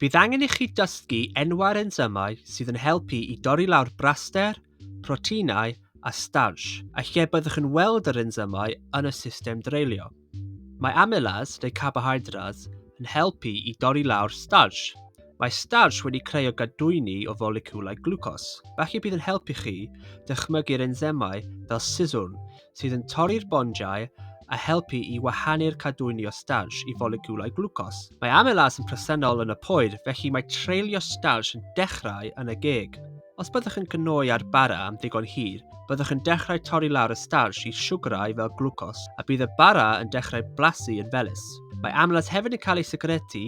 Bydd angen i chi dysgu enwau'r ensymau sydd yn helpu i dorri lawr braster, proteinau a starch, a lle byddwch yn weld yr ensymau yn y system dreulio. Mae amylase, neu carbohydrates, yn helpu i dorri lawr starch. Mae starch wedi creu o gadwyni o foleciwlau glwcos, felly bydd yn helpu chi dychmygu'r ensymau fel siswrn sydd yn torri'r bondiau a helpu i wahanu'r cadwyni o starch i folegiwlau glwcos. Mae amylase yn presennol yn y poer, felly mae treulio starch yn dechrau yn y geg. Os byddwch yn cnoi ar bara am ddigon hir, byddwch yn dechrau torri lawr y starch i siwgrau fel glwcos, a bydd y bara yn dechrau blasu yn felus. Mae amlas hefyd yn cael ei sigretu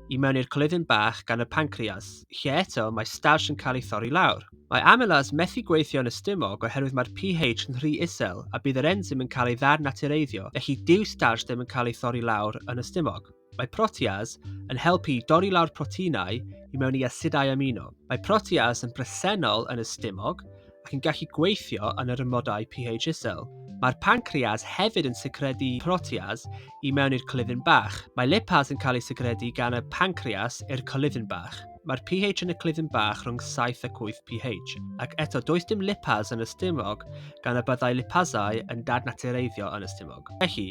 i mewn i'r coluddyn bach gan y pancreas, lle eto mae starch yn cael ei thorri lawr. Mae amylase methu gweithio'n y stumog oherwydd mae'r pH yn rhy isel a bydd yr ensym yn cael ei ddar-natureiddio felly dyw starch ddim yn cael ei thorri lawr yn y stumog. Mae protease yn helpu i dorri lawr proteinau i mewn i asidau amino. Mae protease yn bresennol yn y stumog ac yn gallu gweithio yn yr amodau pH isel. Mae'r pancreas hefyd yn secredu protease i mewn i'r coluddyn bach. Mae lipase yn cael ei secredu gan y pancreas i'r coluddyn bach. Mae'r pH yn y clud yn bach rhwng 7 ac 8 pH, ac eto does dim lipaz yn y stumog gan y byddai lipazau yn dadnatureiddio yn y stumog. Felly,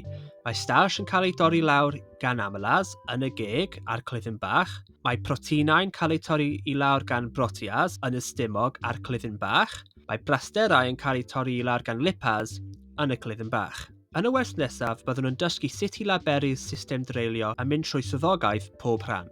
mae starch yn cael ei dorri lawr gan amylaz yn y geg a'r clud yn bach, mae proteinau'n cael eu torri i lawr gan broteas yn y stumog a'r clud yn bach, mae brasterau yn cael eu torri i lawr gan lipaz yn y clud yn bach. Yn y wers nesaf, byddwn yn dysgu sut i laberu'r system dreulio a mynd trwy swyddogaeth pob rhan.